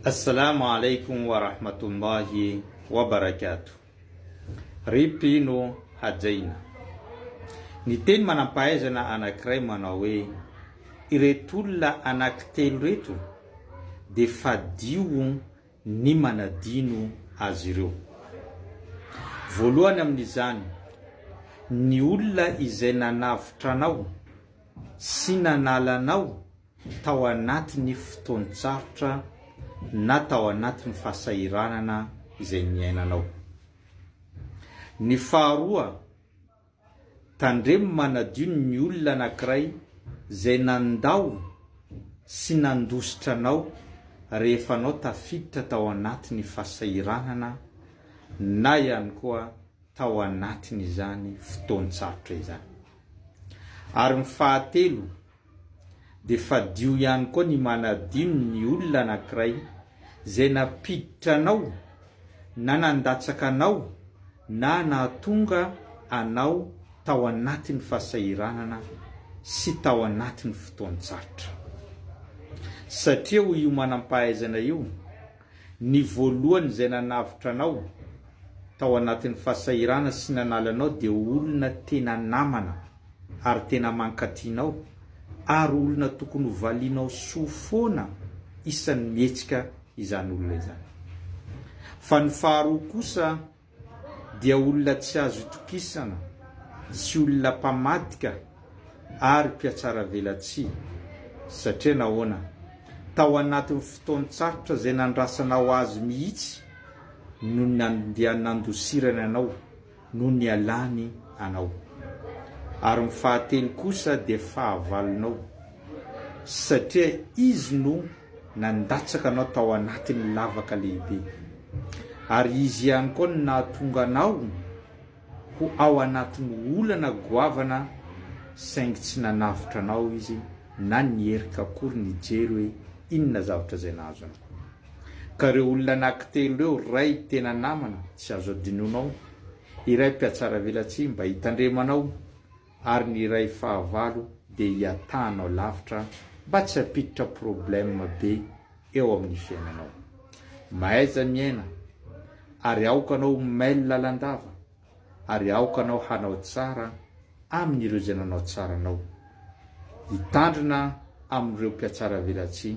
Assalamu alaikum wa rahmatullahi wa barakatuh Rip ino hajaina? Ny teny manampahaizana anakiray manao hoe ireto olona anaky telo reto dia fadio ny manadino azy ireo. Voalohany amin'izany ny olona izay nanavotra anao sy nanala anao tao anatin'ny fotoan-tsarotra na tao anatin'ny fahasahiranana izay niainanao. Ny faharoa, tandremo manadio ny olona anankiray izay nandao sy nandositra anao rehefa anao tafiditra tao anatin'ny fahasahiranana na ihany koa tao anatin'izany fotoan-tsarotra izany. Ary ny fahatelo, dia fadio ihany koa ny manadino ny olona anankiray izay nampiditra anao na nandatsaka anao na nahatonga anao tao anatin'ny fahasahiranana sy tao anatin'ny fotoan-tsarotra. Satria hoy io manam-pahaizana io, ny voalohany izay nanavotra anao tao anatin'ny fahasahiranana sy nanala anao dia olona tena namana. ary tena mankatia anao ary olona tokony ho valianao soa foana isan'ny mihetsika izany olona izany. Fa ny faharoa kosa dia olona tsy azo itokisana sy olona mpamadika ary mpiatsaravelatsihy satria nahoana? Tao anatin'ny fotoan-tsarotra izay nandrasanao azy mihitsy no nandianandosirany anao no nialany anao, ary ny fahatelo kosa dia fahavalonao, satria izy no nandatsaka anao tao anatin'ny lavaka lehibe, ary izy ihany koa no nahatonga anao ho ao anatin'ny olana goavana, saingy tsy nanavotra anao izy, na ny erika akory nijery hoe inona zavatra izay nahazo anao. Ka ireo olona anaky telo ireo ray tena namana tsy azo adinonao, iray mpiatsaravelatsihy mba hitandremanao ary ny iray fahavalo dia hiatahanao lavitra mba tsy hampiditra problème be eo amin'ny fiainanao. Mahaiza miaina ary aoka anao ho mail lalandava ary aoka anao hanao tsara amin'ireo izay nanao tsara anao. Hitandrina amin'ireo mpiatsaravelatsihy